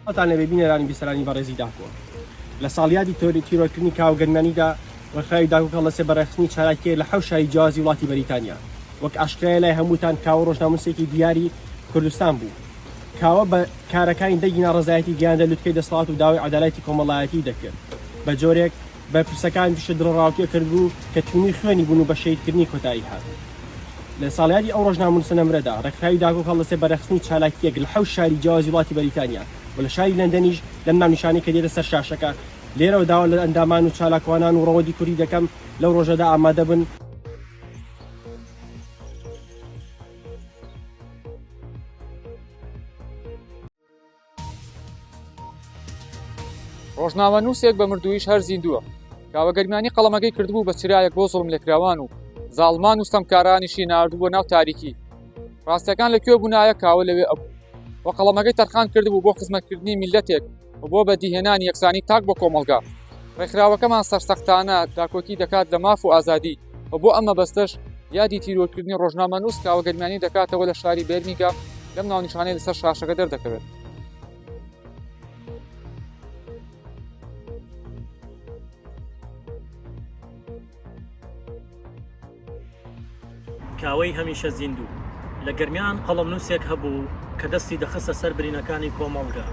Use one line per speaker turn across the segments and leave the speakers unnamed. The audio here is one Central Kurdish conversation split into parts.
ئەتان لەبێ بینەرانی بیسەرانی بەڕێزی داکۆ لە ساڵیادی تۆری تیرۆکردنی کاو گەنمانیدا ڕخاوی داکوکە لەسێ بەڕێخستنی چالاکێ لە حەوشایی جیازی وڵاتی بەریتانیا وەک ئاشکرای لای هەمووتان کاوە ڕۆژناموسێکی دیاری کوردستان بوو کاوە بە کارەکانی دەگینا ڕزایەتی گەیاندە لوتکەی دەسڵات و داوای عدالایەتی کۆمەڵایەتی دەکرد بە جۆرێک بەرپرسەکان گشت دڵەڕاوکێ کردبوو کە تینووی خوێنی بوون و بە شەهیدکردنی کۆتایی هات. لە ساڵیادی ئەو ڕۆژنامەنووسە نەمرەدا، ڕێکخراوی داکۆک هەڵدەستێ بە ڕێکخستنی چالاکییەک لە حەوت شاری جیاوازی وڵاتی بەریتانیا و لە شاری لەندەنیش، لەم ناونیشانەی کە دێتە سەر شاشەکە، لێرەوە داوا لە ئەندامان و چالاکوانان و ڕەوەندی کوردی دەکەم لەو ڕۆژەدا ئامادە بن.
ڕۆژنامەنووسێک بە مردوویش هەر زیندووە کاوە گەرمیانی قەڵەمەکەی کردبوو بە چرایەک بۆ زڵم لێکراوان و زاڵمان و ستەمکارانیشی ناردبووە ناو تاریکی ڕاستەکان لە کوێ بوونایە کاوە لەوێ ئەبوو و قەڵەمەکەی تەرخان کردبوو بۆ خزمەتکردنی میلەتێک و بۆ بەدیهێنانی یەکسانی تاک بۆ کۆمەڵگا ڕێکخراوەکەمان سەرسەختانە داکۆکی دەکات لە ماف و ئازادی و بۆ ئەم مەبەستەش یادی تیرۆرکردنی ڕۆژنامە نووس کاوە گەرمیانی دەکاتەوە لە شاری بێرمیگا لەم ناونیشانەی لەسەر شاشەکە دەردەکەوێت
کاوەی هەمیشە زیندوو لە گەرمیان قەڵم نووسێک هەبوو کە دەستی دەخستە سەر برینەکانی کۆمەڵگا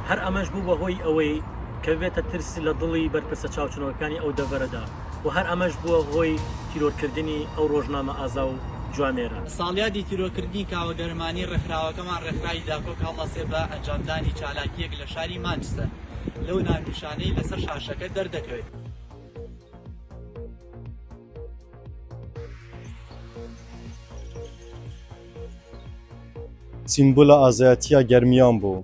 هەر ئەمەش بوو بە هۆی ئەوەی کە بێتە ترس لە دڵی بەرپرسە چاوچنەوەکانی ئەو دەڤەرەدا و هەر ئەمەش بووە هۆی تیرۆرکردنی ئەو رۆژنامە ئازا و جوامێرە. ساڵیادی تیرۆکردنی
کاوە گەرمانی رێکخراوەکەمان رێکخراوی داکۆک هەڵدەسێ بە ئەنجامدانی چالاکییەک لە شاری مانچستەر لەو ناونیشانەی لەسەر شاشەکە دەردەکەوێت.
سیمبولە ئازایەتییە گەرمیان بوو.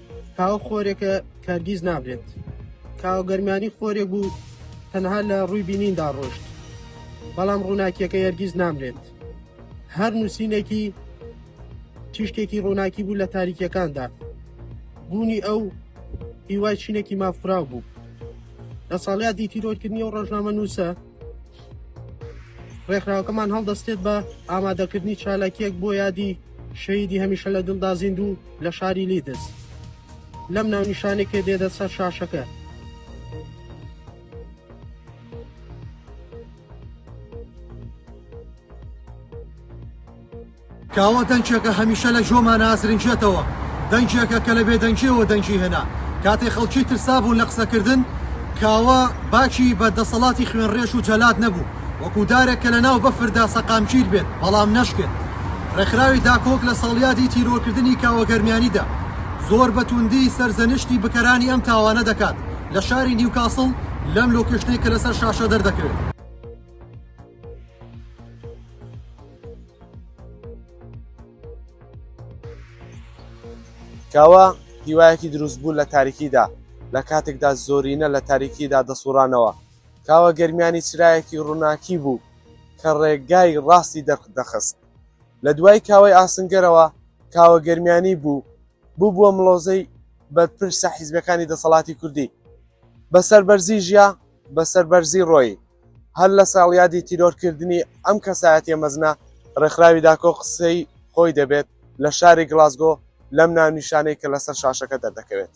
کاوە خۆرێکە کەرگیز نابێت کاوە گەرمانی خۆرێک بوو تەنها لە ڕووی بینیندا ڕۆشت بەڵام ڕووناکیەکە یەرگیز نامرێت هەر نووسینێکی تیشکێکی ڕووناکی بوو لە تاریکیەکاندا بوونی ئەو هیوای چینێکی مافراو بوو لە ساڵات دیتیرۆرکردنی و ڕۆژنامە نووسە ڕێکخراوەکەمان هەڵدەستێت بە ئامادەکردنی چالاکیەک بۆ یادی شەیدی هەمیشە لە دڵدا زیندوو لە شاری لیدز لەم ناونیشانێکێ دێدە سەر شاشەکە
کاوە دەنگێکە هەمیشە لە ژۆما نازرنجێتەوە دەنگێکە کە لە بێدەنگیەوە دەنگی هێنا کاتێ خەڵکی ترسابوون لە قسەکردن کاوە باکی بە دەسەڵاتی خوێنڕێش و جەلات نەبوو وەکو دارێک کە لەناو بەفردا سەقامگیر بێت بەڵام نەشکێت. ڕێکخراوی داکۆک لە ساڵیادی تیرۆرکردنی کاوە گەرمیانیدا زۆر بە توندی سەرزەنشتی بکەرانی ئەم تاوانە دەکات لە شاری نیوکاسڵ لەم لۆکێشنەی کە لەسەر شاشە دەردەکەوێت.
کاوە هیوایەکی دروستبوو لە تاریکیدا لە کاتێکدا زۆرینە لە تاریکیدا دەسوڕانەوە کاوە گەرمیانی چرایەکی ڕووناکی بوو کە ڕێگای ڕاستی دەرخدەخست. لە دوای کاوەی ئاسنگەرەوە کاوە گەرمیانی بوو بووبووە مڵۆزەی بەرپرسە حیزبەکانی دەسەڵاتی کوردی. بە سەربەرزی ژیا، بە سەربەرزی ڕۆیی. هەر لە ساڵیادی تیرۆرکردنی ئەم کەسایەتیە مەزنە ڕێکخراوی داکۆ قسەی خۆی دەبێت لە شاری گڵاسگۆ لەم ناونیشانەی کە لەسەر شاشەکە دەردەکەوێت.